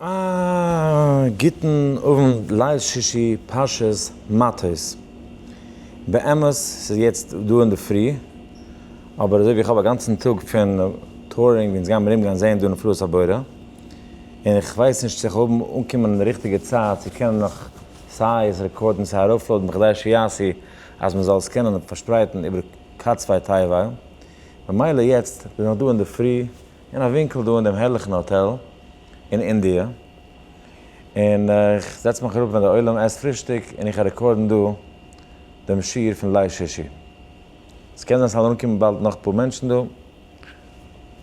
א גוטן אוונט ליל שישי פרשת מטות. באמת ס'איז יעצט דא אינדערפרי, אבער אזוי ווי איך האב א גאנצן טאג פון טורינג ווי אונז גייען ארומגיין זעהן דא נפלאות הבורא, און איך ווייס נישט צו איך האב אנקומען אין ריכטיגע צייט צו קענען נאך סיי עס רעקארדן סיי ארויפלאודן בכדי שיעשי אז מען זאל עס קענען פארשפרייטן איבער קאצוויי טייוואי, ממילא יעצט בין איך דא אינדערפרי. אין א ווינקל דא אין דעם הערליכן האטעל אין אינדיע, און איך זעץ מיך אראפ ווען דער עולם עסט פרישטאג און איך רעקארדן דא דעם שיעור פון ליל שישי. עס קען זיין ס'וועלן אנקומען באלד נאך אפאר מענטשן דא,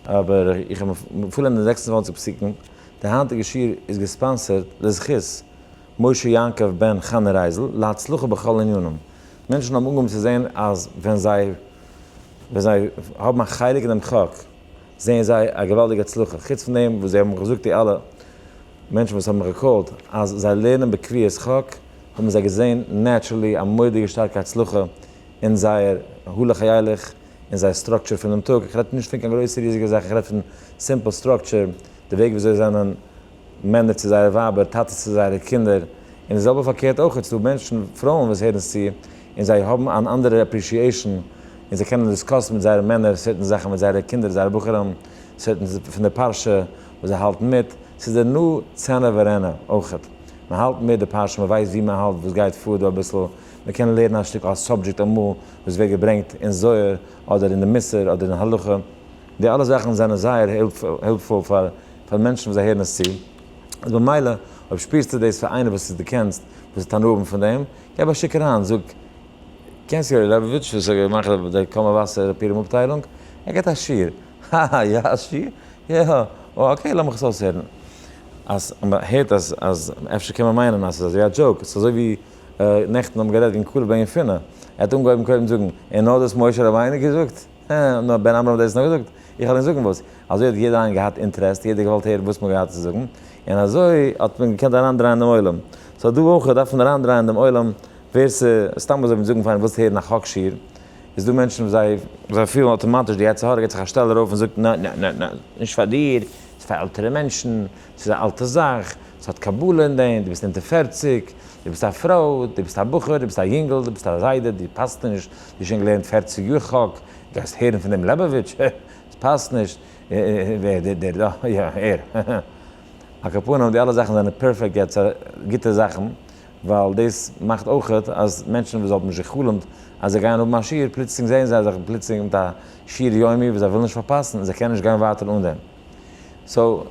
אבער איך האב מפלנט די זעקס און צוואַנציק פסוקים. דער היינטיגער שיעור איז געספאנסערט לזכות משה יעקב בן חנה רייזל להצלחה בכל ענינים. מענטשן האבן אנגעהויבן צו זען אז ווען זיי ווען זיי האבן א חלק אין דעם חק, זעען זיי א געוואלדיגע הצלחה, חוץ פון דעם וואס זיי האבן געזאגט די אלע מענטשן וואס האבן רעקאלד אז זיי לערנען בקביעות חק, האבן זיי געזען נעטשרעלי א מורא'דיגע שטארקע הצלחה אין זייער הלוך הילך און זייער סטראקטשער פונעם טאג, איך רעד נישט פון קיין גרויסע ריזיגע זאכן, איך רעד פון סימפל סטראקטשער, די וועג וויאזוי זיי זענען מענער צו זייערע ווייבער, טאטעס צו זייערע קינדער, און די זעלבע פארקערט אויך, ס'דא מענטשן, פרויען וואס הערן עס צו, און זיי האבן אן אנדערע עפרישיעישן, און זיי קענען דיסקאסן מיט זייערע מענער סערטען זאכן, מיט זייערע קינדער, זייערע בחורים, סערטען פון די פרשה וואס זיי האלטן מיט, ס'איז דער נא צענע ורענע אויך, מען האלט מיט די פרשה, מען ווייסט ווי מען האלט, וואס גייט פאר דא אביסל, מען קען לערנען א שטיקל א סאבדזשעקט אמאל וואס ווערט געברענגט אין זוהר, אדער אין די מוסר, אדער אין הלכה. די אלע זאכן זענען זייער העלפפול פאר פאר מענטשן וואס זיי הערן עס צו, איז במילא אויב שפירסטו דאס פאר איינער וואס דו קענסט וואס וועט הנאה האבן פון דעם, געב א שיק אריין, זאג, קענסט יואלי לעבאוויטש וואס איז געמאכט אויף דער קאמא וואסער אפירום אפטיילונג? ער געבט א שיעור. האהא יא א שיעור? יא הא או אקעי לאמיך עס אויסהערן. אז מען הערט אז אז אפשר קען מען מיינען אז עס איז אזוי א דזשאוק, עס איז אזוי ווי נעכטן האבן גערעדט וועגן קאלוב און יפונה, ער האט אנגעהויבן קודם זאגן און נאר דאס משה רבינו געזאגט? אה, נאר בן עמרם האט דאס נאר געזאגט? איך וועל ענק זאגן וואס. אזוי האט יעדער איינער געהאט אינטרעסט, יעדער האט געוואלט הערן וואס מ'האט געהאט צו זאגן, און אזוי האט מען געקענט אריינדרייען דעם עולם. סאו דא אויך דארף מען אריינדרייען דעם עולם, ווער ס'סתם אזוי וויל זאגן פאר איינעם ווילסטו הערן א חק שיר, איז דא מענטשן וואס זיי, זיי פילן אטאמאטיש די יצר הרע געט זיך א שטעל ארויף און זאגט נע נע נע נע, נישט פאר דיר, ס'פאר עלטערע מענטשן, ס'איז א אלטע זאך, ס'האט קבלה אין דעם, דו ביסט אונטער פֿערציק, דו ביסט א פרוי, דו ביסט א בחור, דו ביסט א יונגל, דו ביסט א זיידע, דו פאסט נישט, דו האסט שוין געלערנט פֿערציק יאר חק, גייסט הערן פון דעם לעבאוויטש, הע, עס פאסט נישט, ווער דער דער דא, יא, ער, הע הע. על כל פנים, די אלע זאכן זענען פערפעקט גוטס גוטע זאכן, ווייל דאס מאכט אויכעט אז מענטשן וואס האבן נישט גע'חלומ'ט אז זיי גייען האבן א שיעור, פלוצלינג זעען זיי זיך פלוצלינג מיט א שיעור יומי וואס זיי ווילן נישט פארפאסן, און זיי קענען נישט גיין ווייטער אן דעם. סאו,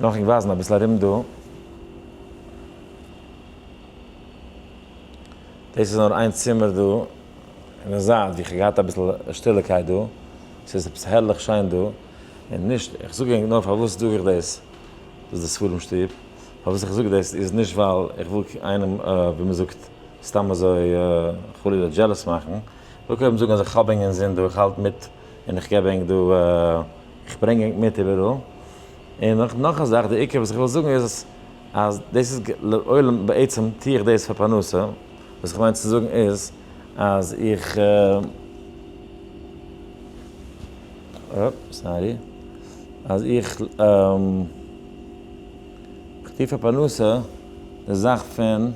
לאמיר ווייזן אביסל ארום דא. דאס איז נאר איין צימער דא אין די זייט ווי איך האב געהאט אביסל שטילערקייט דא. ס'איז עפעס הערליך שיין דא. און נישט, איך זאג ענק נאר פארוואס זאג איך דאס, דאס איז די ספרים שטוב. פארוואס איך זאג דאס איז נישט ווייל איך וויל איינעם, ווי מ'זאגט, סתם אזוי חלילה דזשעלעס מאכן. איך וויל קודם זאגן אז איך האב ענק אינזין דא, איך האלט מיט. און איך געב ענק דא, איך ברענג ענק מיט איבעראל. און אויך נאך א זאך, די עיקר וואס איך וויל זאגן איז, אז דאס איז לעולם, בעצם טוה איך דאס פאר פרנסה, וואס איך מיין צו זאגן איז, אז איך, אופ, סארי, אז איך, איך טוה פאר פרנסה די זאך פון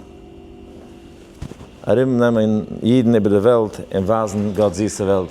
ארום נעמען אידן איבער די וועלט און ווייזן גאט'ס זיסע וועלט.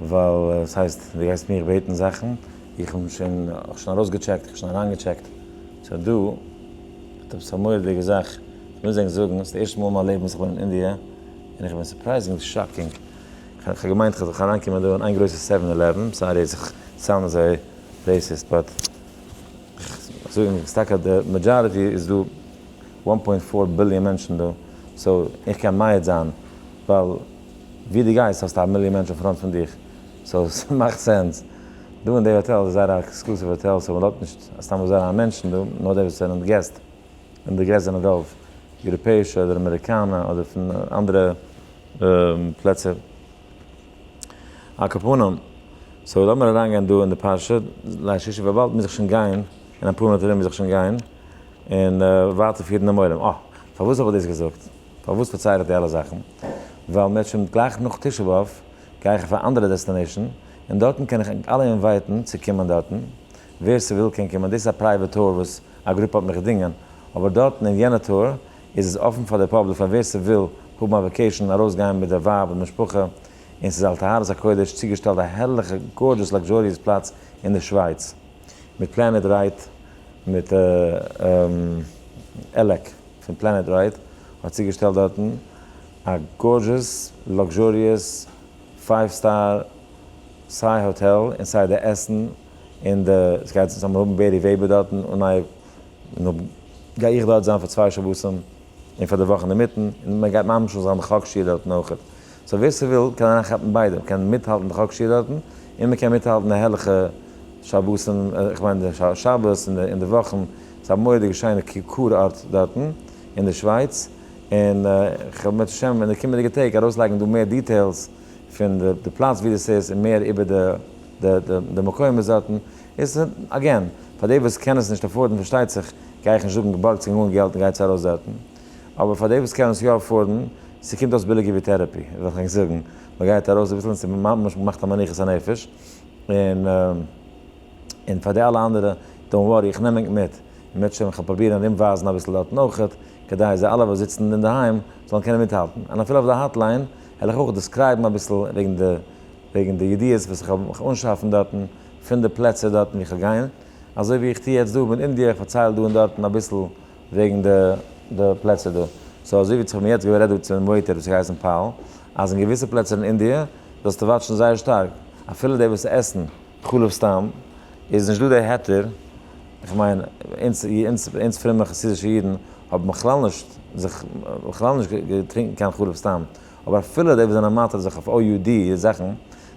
ווייל עס הייסט דו גייסט מיך בעטן זאכן, איך האב שוין שוין ארויסגעטשעקט, איך האב שוין אריינגעטשעקט, סאו דא האט עפעס א מורא'דיגע זאך, איך מוז ענק זאגן, ס'איז די ערשטע מאל אין מיין לעבן וואס איך בין אין אינדיע, און איך בין סורפרייזינגלי שאקינג, כ'האב געמיינט כ'וועל זיך אריינקומען דא אין איין גרויסע סעווען אילעווען, סארי אז איך סאונד אזוי רעיסיסט, באט איך זאג ענק, ס'איז טאקע די מעדזשאריטי איז דא וואן פוינט פאר ביליאן מענטשן דא, סאו איך קען מעיד זיין, ווייל. ווי דו גייסט האסטו א מיליאן מענטשן פראנט פון דיך, סאו ס'מאכט סענס. דא אין די האטעל איז זייער א עקסקלוסיוו האטעל, סאו מ'לאזט נישט סתם אזוי אריין מענטשן דא, נאר די וואס זענען געסט, און די געסט זענען רוב יוראפעישע אדער אמעריקאנע אדער פון אנדערע פלעצער. על כפונם, סאו לאמיר אריינגיין דא אין די פרשה, ליל שישי וויבאלד מ'איז זיך שוין גיין, אין אפאר מינוט ארום איז זיך שוין גיין, און ווייטער פירן דעם עולם. אה, פארוואס האב איך דאס געזאגט? פארוואס פארצייל איך די אלע זאכן? ווייל מען האט שוין גלייך נאך תשעה באב גיי איך אויף א אנדערע דעסטענעישן, און דארטן קען איך ענק אלע אינווייטן צו קומען דארטן, ווער ס'וויל קען קומען, דאס איז א פרייוועט טור וואס א גרופע האט מיך געדינגען, אבער דארטן אין יענע טור איז עס אפן פאר די פאבליק פאר ווער ס'וויל האבן א וועקעישן, ארויסגיין מיט די ווייב און משפחה, און ס'איז על טהרת הקודש צוגעשטעלט א הערליכע גארדזשעס לאקזשאריעס פלאץ אין די שווייץ. מיט פלענעט רייט מיט עלעק פון פלענעט רייט האט צוגעשטעלט דארטן א גארדזשעס לאקזשאריעס פייוו סטאר סיי האטעל און סיי די עסן און די סגייט זיך האבן בערי וועבער דארטן און נייע און גיי איך דארט זיין פאר צוויי שבתים און פאר די וואך אינדערמיטן און מען גייט ממשיך זיין די חק שיעור דארטן אויכעט. סאו ווער ס'וויל קען אריינכאפן ביידע, מען קען מיטהאלטן די חק שיעור דארטן, און מען קען מיטהאלטן די הערליכע שבתים, איך מיין די שבת און די וואכן, ס'איז א מורא'דיגע שיינע קור-ארט דארטן אין די שווייץ, און איך וועל בעזהשי ת אין די קומענדיגע טעג ארויסלייגן דא מער דיטעילס פון די פלאץ ווי דאס איז און מער איבער די מקומות דארטן, איז אגעין, פאר די וואס קענען עס נישט עפארדן פארשטייט זיך, גיי איך נישט זאגן בארגטס קעגן אן געלט און גייטס ארויס דארטן. אבער פאר די וואס קענען עס יא אפארדן, ס'קומט אויס ביליגער ווי טערעפי, וועל איך ענק זאגן, מ'גייט ארויס אביסל און ס'ממש מאכט א מנוחת הנפש, און און פאר די אלע אנדערע, דאונט ווארי, איך נעם ענק מיט, און מ'וועט שוין, כ'וועל פרובירן ארום ווייזן אביסל דארטן אויכעט, כדי זיי אלע וואס זיצן אינדערהיים זאלן קענען מיטהאלטן, און אפילו אויף די האטליין, העל איך אויך דעסקרייבן אביסל וועגן די וועגן די ידיעות וואס כ'העל מיך אנשאפן דארטן, פון די פלעצער דארטן ווי כ'העל גיין, אזוי ווי איך טו יעצט דא מיט אינדיע, איך פארצייל דא און דארטן אביסל וועגן די די פלעצער דא. סאו אזוי ווי איך האב מיר יעצט גערעדט דא צו דעם וועיטער וואס האט געהייסן פאול, אז אין געוויסע פלעצער אין אינדיע זאלסטו וואטשן זייער שטארק, אפילו די וואס עסן חלב סתם, איז נישט דא די היתר, איך מיין אונז אונז אונז פרומע חסידישע אידן האבן בכלל נישט זיך בכלל נישט געטרינקן קיין חלב סתם, אבער אפילו די וואס זענען מטריד זיך אויף OUD זאכן,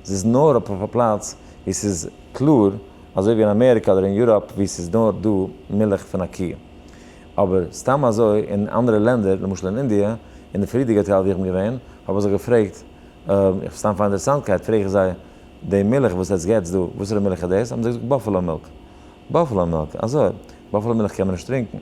ס'איז נאר אויף א פלאץ ווי ס'איז קלאר. אזוי ווי אין אמעריקא אדער אין יוראפ ווי ס'איז נאר דא מילך פון א קוה. אבער סתם אזוי אין אנדערע לענדער, למשל אין אינדיע, אין די פריערדיגע טייל ווי איך בין געווען, האב איך זיי געפרעגט, איך סתם פאר אינטערעסאנטקייט פרעג איך זיי, די מילך וואס עטס געטס דא, וואסערע מילך איז דאס? האבן זיי געזאגט באפעלא מילק. באפעלא מילק? אזוי? באפעלא מילך קען מען נישט טרינקען.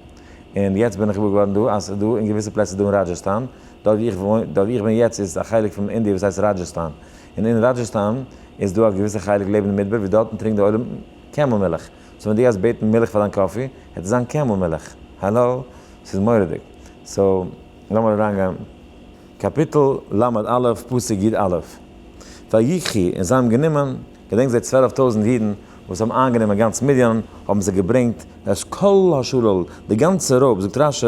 און יעצט בין איך געוואר געווארן דא אז ס'איז דא אין געוויסע פלעצער דא אין ראדזשעסטאן, דארט ווי איך וואוין, דארט ווי איך בין יעצט איז א חלק פון אינדיע וואס הייסט ראדזשעסטאן, און אין ראדזשעסטאן איז דא א געוויסע חלק לעבן די מדבר ווי דארטן טרינקט די עולם קעמל מילך, סאו ווען דו גייסט בעטן מילך פאר דיין קאפי העט עס זיין קעמל מילך, האלאו? ס'איז מורא'דיג. סאו לאמיר אריינגיין. קאפיטל ל' א' פסוק י א'. ויקחי, און זיי האבן גענומען, געדענק זיי צוועלף טויזנט אידן, וואס האבן איינגענומען גאנץ מדיין, האבן זיי געברענגט את כל השלל, די גאנצע רוב, זאגט רשי,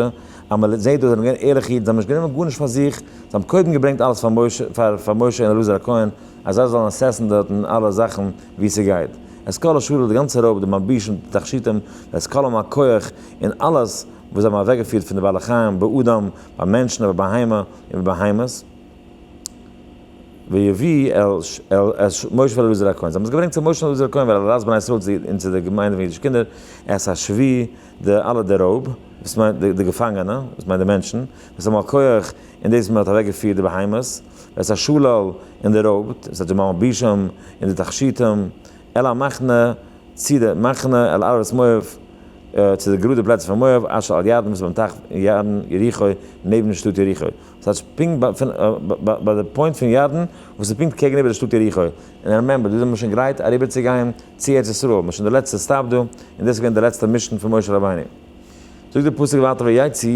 אז מען זעט דא זיי האבן געווען ערליכע אידן, זיי האבן נישט גענומען גארנישט פאר זיך, זיי האבן קודם געברענגט אלעס פאר משה, פאר פאר משה און אלעזר הכהן, אז זיי זאלן עססעסן דארטן אלע זאכן ווי ס'גייט, את כל השלל, די גאנצע רוב, די מלבישים, די תכשיטים, די עסקנים הכח, און אלעס וואס זיי האבן אוועקגעפירט פון די בעלי חיים, באדם, ביי מענטשן, ביי בהמה, און ביי בהמות. ויביא אל אש משה ואלעזר הכהן, זיי האבן עס געברענגט צו משה און אלעזר הכהן ווייל אלעזר בני ישראל און צו די געמיינדע פון אידישע קינדער את השבי די אלע די רויב, דאס מיינט די געפאנגענע, דאס מיינט די מענטשן, ואת המלקח און דאס וואס מען האט אוועקגעפירט די בהמות, ואת השלל און די רויבט, דאס הייסט די מלבישים און די תכשיטים, אל המחנה צו די מחנה, אל ארבת מואב צו די גראדע פלעצער פון מואב, אשר על ירדן וואס איז ביים טייך ירדן יריחו נעבן שטאט יריחו, ס'טייטש פונקט ביי פון ביי ביי די פוינט פון ירדן וואס איז פונקט קעגן איבער די שטאט יריחו, און רעמעמבער דא איז מען שוין גרייט אריבער צו גיין צו ארץ ישראל, מען איז שוין די לעצטע סטאפ דא, און דאס איז געווען די לעצטע מישן פון משה רבינו. זאגט די פסוק ווייטער ויצא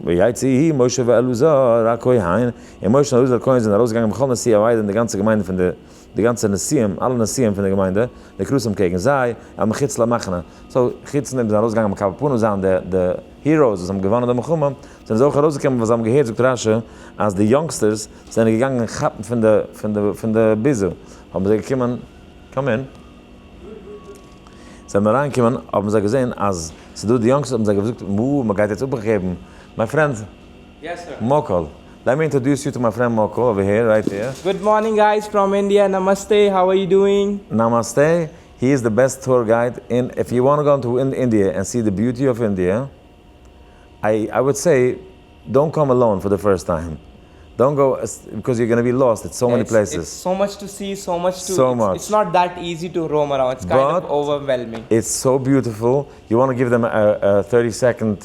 ויצא ה' משה ואלעזר הכהן, און משה און אלעזר הכהן זענען ארויסגעגאנגען בכל נשיאי העדה און די גאנצע געמיינדע פון די די גאנצע נשיאים, אלע נשיאים פון די געמיינדע, די קרסים קעגן זיי, אלע מחוץ למחנה. סאו, חוץ נאר די זענען ארויסגעגאנגען מיט קאווע פנים זיין די די היראוס וואס האבן געוואנען די מלחמה, זענען זיי אויך ארויסגעקומען ווייל זיי האבן געהערט, זאגט רא ש, אז די יונגסטערס זענען געגאנגען כאפן פון די פון די פון די ביזה, האבן זיי געקומען, קאם אין, זיי האבן אריינגעקומען האבן זיי געזען אז ס'דא די יונגסטערס האבן זיי געזאגט, וואו, מ'גייט יעצט אפגעבן, מיי פרענד, מאָקאָל, לעט מי אינטראָדוס יו טו מיי פרענד מאָקאָל, אָווער העיר, רייט העיר. גוד מארנינג גייס פראם אינדיע, נאמאסטע, האו אר יו דואינג? נאמאסטע, הי איז די בעסט טור גייד אין איף יו וואנט גאו אינטו אינדיע ענד סי די ביוטי אף אינדיע איי איי וואד סעי דאנט קאם אלאון פאר די פירסט טיים דאנט גאו ביקאוז יו גאנא בי לאסט איטס סאו מעני פלעיסעס סאו מאטש באט איטס סאו ביוטיפול יו וואנט גיוו דעם א טערטי סעקאנד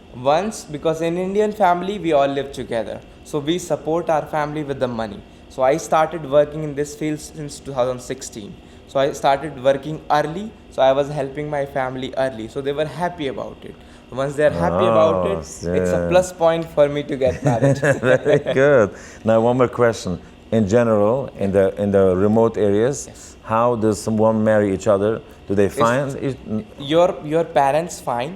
וואנס ביקאוס אין אינדיען פעמילי ווי אלל ליוו טוגעדער סאו ווי סופארט אווער פעמילי וויט די מאני סאו איי סטארטעד ווארקינג אין דיס פיעלד סינס טו טאוזענד סיקסטין סאו איי סטארטעד ווארקינג ארלי סאו איי וואזע העלפינג מיי פעמילי ארלי סאו דעי ווער העפי אבאוט איט וואנס דעי אר העפי אבאוט איט איטס א פלאס פוינט פאר מי טו געט מעריד. ווערי גוד, נאו וואן מאר קוועסשאן, אין דזשענעראל אין די אין די רימאוט עריעס האו דאס וואן מערי איטש אדער דו דעי פיינד איטש? יור יור פערענטס פיין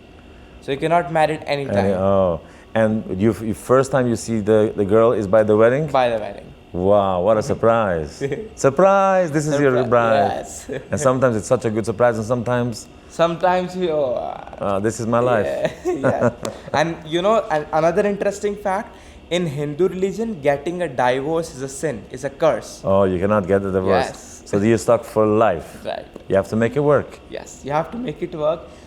סאו יו קען נאט מעריד עני טיים. אה, ענד יו פירסט טיים יו סי די גירל איז ביי די וועדינג? ביי די וועדינג. וואו, וואט א סורפרייז. סורפרייז! דיס איז יור ברייד. ענד סאמטיימס איטס סאטש א גוד סורפרייז און סאמטיימס. סאמטיימס יא. דיס איז מיי לייף. יא. ענד יו נאו אנאדער אינטרעסטינג פעקט, אין הינדו רעליזשען געטינג א דייווארס איז א סין, איז א קורס. אה, יו קענאט געט די דייווארס. סאו דו סטאק פאר לייף. רייט. יו האוו טו מעיק איט ווארק. יעס, יו האוו טו מעיק איט ווארק.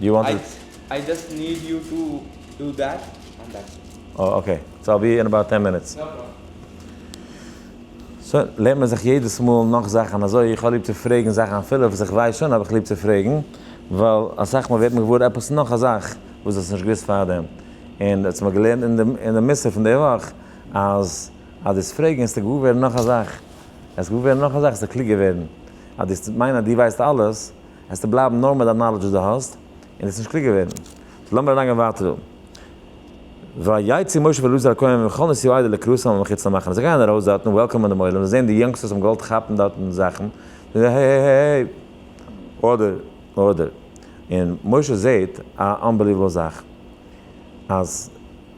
דו וואנט איט? איי דזשאסט ניד יו טו דו דעט ענד דעטס איט. אה אקעי, סא איל בי אין אבאוט טען מינוטס. נא פראבלעם. סא לערנט מען זיך יעדעס מאל נאך זאכן אזוי, איך האב ליב צו פרעגן זאכן אפילו וואס איך ווייס שוין האב איך ליב צו פרעגן, ווייל אסאך מאל ווערט מען געוואר עפעס נאך א זאך וואס דו האסט נישט געוואוסט פארדעם, און דו האסט מיר געלערנט אין די אין די מוסר פון די וואך אז אז דו האסט פרעגן העסטו געוואר ווערן נאך א זאך, העסט געוואר ווערן נאך א זאך העסטו קלוגער ווערן, אז דו האסט מיינען אז דו ווייסט אלעס העסטו בלייבן נאר מיט דיין נאלעדזש וואס דו האסט, און דאס נישט קלוגער ווערן. סאו לאמיר אריינגיין ווייטער דא. ויצא משה ואלעזר הכהן ממחנות יהוידע לקרוסם ומחוץ למחנה, זיי גייען ארויס דארטן וועלקאמען דעם עולם, זיי זעען די יונגסטערס האבן געוואלט כאפן דארטן זאכן, זיי זאגן העי העי העי העי, ארדער ארדער, און משה זעט א אנבעליוועבל זאך, אז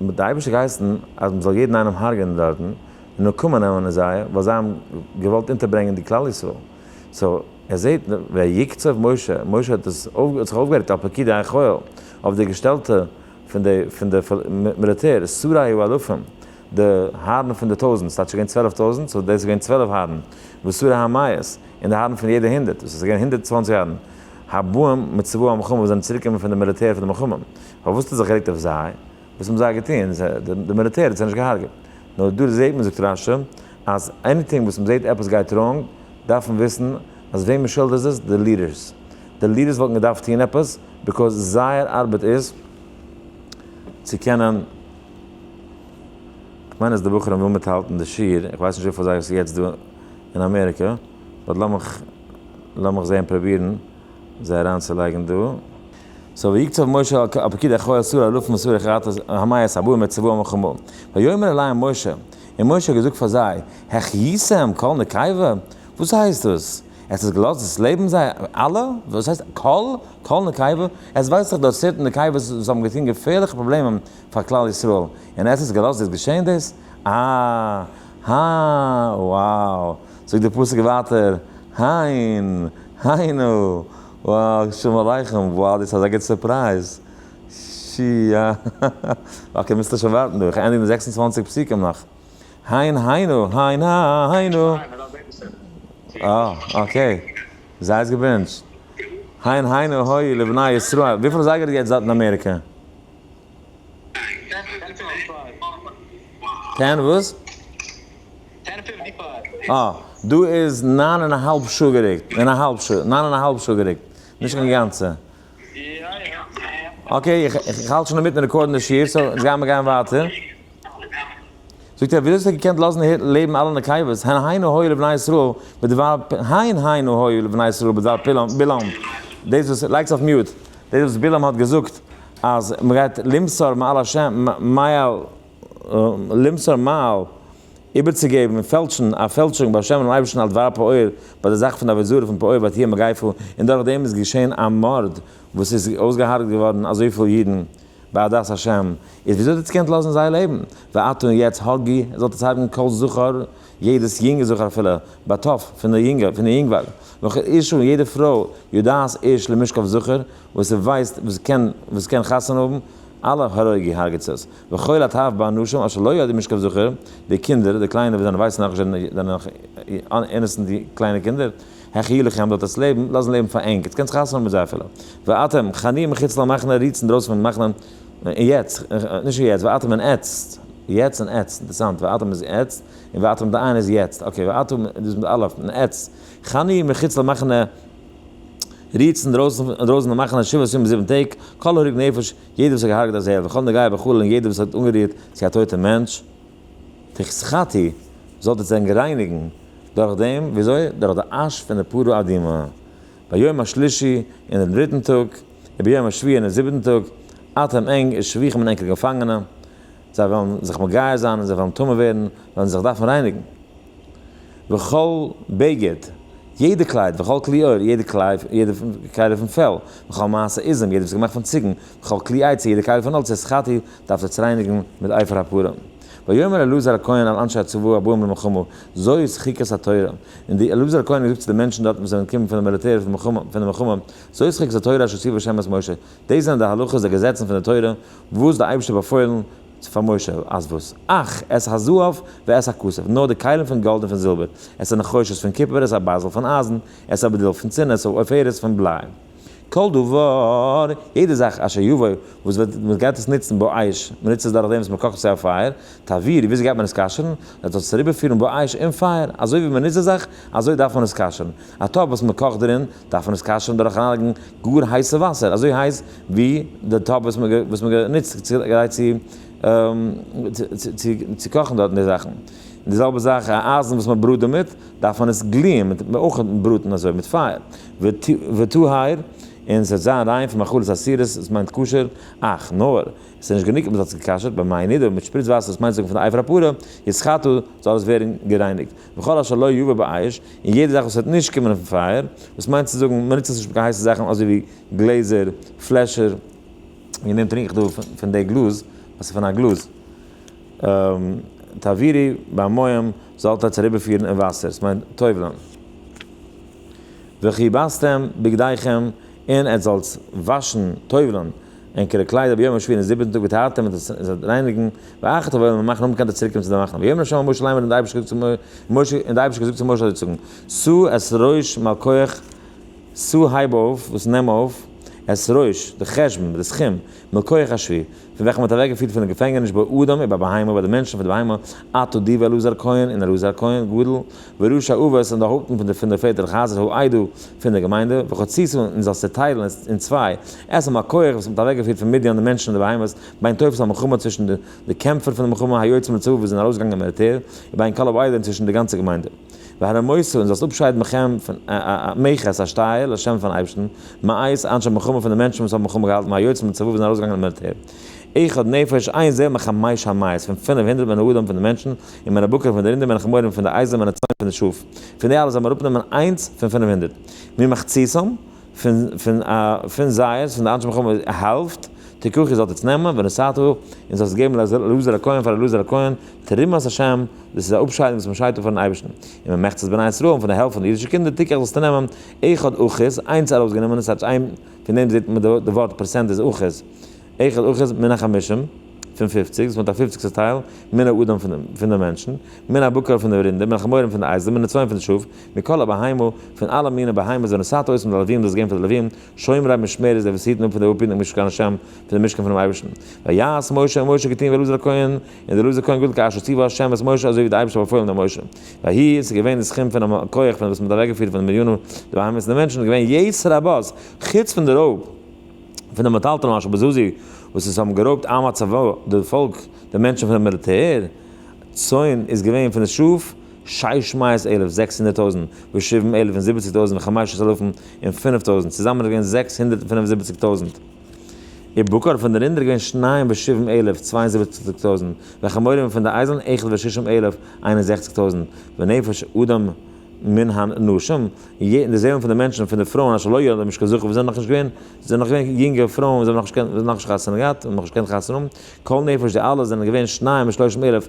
די אייבערשטער האט געהייסן אז מ'זאל יעדן איינעם הרג'ענען דארטן, נקמה נעמען אין זיי, ווייל זיי האבן געוואלט אונטערברענגען די כלל ישראל. סאו ער זעהט ויקצב משה, משה האט דאס אויף האט זיך אויפגערעגט על פקידי החיל, אויף די געשטעלטע פון די פון די מיליטער, שרי האלפים, די הארן פון די טויזענט, ס'האט נישט געווען צוועלף טויזענט, סאו דאס איז געווען צוועלף הארן, ושרי המאות, און די הארן פון יעדע הונדערט, דאס איז געווען הונדערט צוואנציג הארן, הבאים מצבא המלחמה וואס זענען צוריקגעקומען פון די מיליטער פון די מלחמה, פארוואס האט ער זיך גערעגט אויף זיי? וואס האבן זיי געטון? די מיליטער האט זיי נישט געהארגעט. נאר דא זעהט מען זאגט רש י אז עניטינג וואס מען זעהט עפעס גייט ראנג דארף מען וויסן אז וועם מען שולדיגט איז עס די לידערס. די לידערס וואלטן געדארפט טון עפעס ביקאוז זייער ארבעט איז צו קענען. כ'מיין אז די בחורים ווילן מיטהאלטן די שיעור, איך ווייס נישט וויפיל זיי עס יעצט דא אין אמעריקע, באט לאמיך לאמיך זעהן פראבירן זיי אריינצולייגן דא. סאו ויקצב משה אל הפקיד אחראי אסור אלופים אסור לכרת המית הבאים את צבאם מלחמה ויאמר אליהם משה און משה האט געזאגט פאר זיי החייתם כל נקיבה וואס הייסט דאס עס איז געלאזט דאס לעבן זיי אלע וואס הייסט כל כל נקיבה עס ווייזט זיך דארט סערטען נקיבות וואס האבן געטון געפערליכע פראבלעמען פאר כלל ישראל און עס איז געלאזט דאס געשען דאס אה הא wow זאגט די פסוק ווייטער הן היינו. וואו שלום עליכם, וואו דאס איז אזא גוט סורפרייז, שייא, אקעי מוזטו שוין ווארטן דא, איך ענדיג די זעקס און צוואַנציק פסוקים נאך, היין היינו, היין היינו, אה אקעי, זיי איז געבענטשט, היין היינו הוי לבני ישראל, וויפיל אזייגער איז יעצט דארט אין אמעריקא? טען וואס? טען פיפטי פאר. אה, דא איז ניין און א האלב שעה גערוקט, און א האלב שעה, ניין און א האלב שעה גערוקט, נישט קיין גאנצע. יא יא. אקעי, איך האלט שוין אינמיטן רעקארדן די שיעור, סאו אונז גיימער גיין ווייטער. זאגט ער, וויאזוי האסטו געקענט לאזן לעבן אלע נקבות, הן היינו הוי לבני ישראל בדבר פ, הן היינו הוי לבני ישראל בדבר פילם, בלעם, דאס וואס, לייגטס אויף מיוט, דאס וואס בלעם האט געזאגט אז מ'גייט למסור מעל השם, מעל, למסור מעל, איבערצוגעבן און פעלטשן א פעלטשונג ביי השם און אייבערשטן על דבר פעור ביי די זאך פון די עבודה זרה פון פעור בתיה מגיפה און דורך דעם איז געשען א מארד וואס איז אויסגעהארגעט געווארן אזויפיל אידן בעדת השם איז וויאזוי האט עטס געקענט לאזן זיי לעבן ואתו און יעצט הרגי זאלט עטס הרגן כל זכר יעדעס יונגע זכר אפילו ביי טף פון די יונגע פון די יונגווארג וכל אישה און יעדע פרוי יודעת איש למשכב זכר וואס ער ווייסט וואס קען וואס קען חתונה האבן אלע הרגי הרגעטס עס. וכל התאוות באנשים אשר לא יודעים משכב זכר, די קינדער, די קליינע וואס זענען ווייסן נאך נישט זענען זענען נאך אינעסענט די קליינע קינדער, העכיער לכם זאלט עטס לעבן, לאזן לעבן פאר ענק, עטס קענטס חתונה האבן מיט זיי אפילו. ואתם, חניה מחוץ למחנה, רוהטס אינדרויסן פון מחנה, און יעצט, נישט און יעצט, ואתם און עטסט, יעצט און עטסט, אינטערסאנט, ואתם איז יעצט, און ואתם די איינע איז יעצט, אקעי, ואתם איז דאס מיט א אלף, און עטסט, חניה מחוץ למחנה, רוהטס אינדרויסן פון מחנה, שבעת ימים זיבן טעג, כל הרוג נפש, יעדער וואס האט געהארגעט א זאב וכו' נגעיה וכו' און יעדער וואס האט אנגערירט צו א טויטע מענטש תחת חטאי זאלט איר זיי רייניגן דורך דעם, ווי אזוי? דורך די אש פון די פרה אדומה ביום השלישי אין דעם דריטן טאג, וביום השביעי אין דעם זיבעטן טאג, אטעם ענג און שבויך מן ענקער געפאנגענע, זיי וועלן זיך מגייר זיין און זיי וועלן טמא ווערן, וועלן זיי זיך דארפן רייניגן. וכל בגד, יעדע קלייד, וכל כלי עור, יעדע קלייד, יעדע קייטע פון פעל, וכל מעשה איזם, יעדע וואס איז געמאכט פון ציגן, וכל כלי עצי, יעדע קייטע פון האלץ, שחטי, דארפט עטס רייניגן מיט עופר הפרים. ויאמר אלעזר הכהן אל אנשי הצבא הבאים למלחמה, זוי איז חוקת התורה. און די אלעזר הכהן האט געזאגט צו די מענטשן דארטן וואס זענען געקומען פון די מיליטער פון די מלחמה, זוי איז חוקת התורה אשר ציווה ה' את משה, דאס זענען די הלכות די געזעצן פון די תורה וואס די אייבערשטער האט באפוילן פאר משה, אז וואס? אך את הזהב ואת הכסף, נאר די כלים פון גאלד און פון זילבער, את הנחושת פון קופער, את הבזל פון אייזן, את הבדל פון צינער, את העופרת פון בליי. כל דבר, יעדע זאך, אשר יבוא, וואס וועט, מען גייט עס נוצן באש, מען נוצט עס דורך דעם וואס מען קאכט עס אויף פייער, תעביר, וויאזוי גייט מען עס כשר'ן? מען דארף עס אריבערפירן באש אין פייער, אזוי ווי מען נוצט די זאך, אזוי דארף מען עס כשר'ן, א טאפ וואס מען קאכט דערין, דארף מען עס כשר'ן דורך אריינלייגן גאר הייסע וואסער, אזוי הייס ווי די טאפ וואס מען האט גענוצט גרייט צו קאכן דארט די זאכן, און די זעלבע זאך א אייזן וואס מען בראט דערמיט, דארף מען עס גליען מיט אויך בראטן אזוי מיט פייער, וטהור, און ס'וועט זיין ריין פון מאכלות אסירות, דאס מיינט כשר, אך נאר, עס איז נישט גענוג אז מען האט עס גע'כשר'ט, במים נידון מיט שפריץ וואסער דאס מיינט זאגן פון די עפר הפרה, יסחטו, זאל עס ווערן גערייניגט, וכל אשר לא יובא באש, און יעדע זאך וואס וועט נישט קומען אויפן פייער, וואס מיינט צו זאגן מ'נוצט עס נישט מיט קיין הייסע זאכן אזוי ווי גלעזער, פלעשער, ווי נעם טרינק איך דא פון די גלאז, וואס איז פון א גלאז, תעבירי במים זאלט עטס אריבערפירן אין וואסער, עס מיינט טובל'ן, וכיבסתם בגדיכם, און עטס זאלטס וואשן, טובל'ן, און כדי קליידער ביום השביעי און זיבעטן טאג ווי טהרת און זיי זאלן רייניגן ואחת אבער און מאכן אומבאקאנט די צוריק קומען צו די מחנה ויאמר השם אל משה לאמר און דער אייבערשטער האט געזאגט צו משה זאל דיר זאגן שאו את ראש מלכך שאו הייב אויף וואס נעם אויף את ראש די חשבון די סכום מלכך השביעי פון וועלכע מען האט אוועק געפירט פון די געפענגעניש ביי אדם און ביי בהמה ביי די מענטשן פון די בהמה אתה די ואלעזר הכהן און אלעזר הכהן גדול וראש האבות און די הויפטן פון די פון די פעטער חזר'ס האידא פון דער געמיינדע, וכת ציסו, און זאלסט צעטיילן אין צוויי, עשו מה כח, וואס מען האט אוועקגעפירט פון מדיין די מענטשן און די בהמות, בין תופס המלחמה, צווישן די קעמפער פון די מלחמה, היוצאים לצבא וואס זענען ארויסגעגאנגען אין מיליטער, און בין כל העדה, און צווישן די גאנצע געמיינדע. והרמוסו, און זאלסט אפשיידן מכם, מכת, א שטייער, לשם פאר'ן אייבערשטן, מאיס, אנשי מלחמה, פון די מענטשן וואס האבן מלחמה געהאלטן, והיוצאים לצבא וואס זענען ארויסגעגאנגען אין מיליטער. אחד נפש, איין זעל, מחמש המאות, פון פינף הונדערט מן האדם, פון די מענטשן, און מן הבקר, פון די רינדער, מן החמורים, פון די אייזלען, מן הצאן, פון די שאף. פון די אלע זאל מען אראפנעמען איינס פון פינף הונדערט, ממחציתם, פון פון זייערס, פון די אנשי מלחמה, א האלבט, תיקחו, איר זאלט יעצט נעמען, ונשאתו, און זאלסט עס געבן לאלעזר הכהן, פאר אלעזר הכהן, תרומת השם, דאס איז א אפשיידונג וואס מען שיידט אפ פארן אייבערשטן. און ממחצת בני ישראל, און פון די העלפט פון די אידישע קינדער, תיקח, זאלסטו נעמען, אחד אחוז, איינס ארויסגענומען, און ס'האט זיך איין. פון דעם זעט מען די ווארט פראצענט איז אחוז, אחד אחוז מן החמישים, פון פופציג, דאס מיינט א פופציגסטע טייל, מן האדם פון די מענטשן, מן הבקר פון די רינדער, מן החמורים פון די אייזלען, מן הצאן פון די שאף, מכל הבהמה, פון אלע מיני בהמות זענען סת אויס, און די לווים, דאס געבן פאר די לווים, שומרי משמרת, די וואס היטן אפ פון די אפהיטן משכן השם, פון די משכן פונעם אייבערשטן. ויעש משה, און משה האט געטון ווי אלעזר הכהן, און דער לוזי כהן גדל כאשר ציוה השם את משה אזוי ווי דער אייבערשטער האט באפוילן דעם משה, ויהי און ס'איז געווען די סכום פונעם כח פון וואס מ'האט אוועקגעפירט פון די מיליאנען די בהמות און די מענטשן איז געווען יתר רבות, חוץ פון די רויב פון די מטלטלים אשר בזוזי וואס עס האבן גערויבט עם הצבא די פאלק די מענטשן פונעם מיליטער, צאן איז געווען פון די שאף שש מאות אלף זעקס הונדערט טויזנט ושבעים אלף און זיבעציק טויזנט וחמשה עשר אלפים און פינף טויזנט, צוזאמען איז געווען זעקס הונדערט און פינף און זיבעציק טויזנט. ובקר פון די רינדער געווען שניים ושבעים אלף, צוויי און זיבעציק טויזנט, וחמורים פון די אייזלן אייכער ושישים אלף, איין און זעכציק טויזנט, ונפש אדם מן הנשים, און די זעלן פון די מענטשן פון די פרויען אשר לא יולדו משכן זכר וואס זענען נאכנישט געווען, זענען נאך געווען יונגע פרויען וואס האבן נאכנישט חתונה געהאט, האבן נאכנישט געקענט חתונה האבן, כל נפש די אלע זענען געווען שניים ושלושים אלף,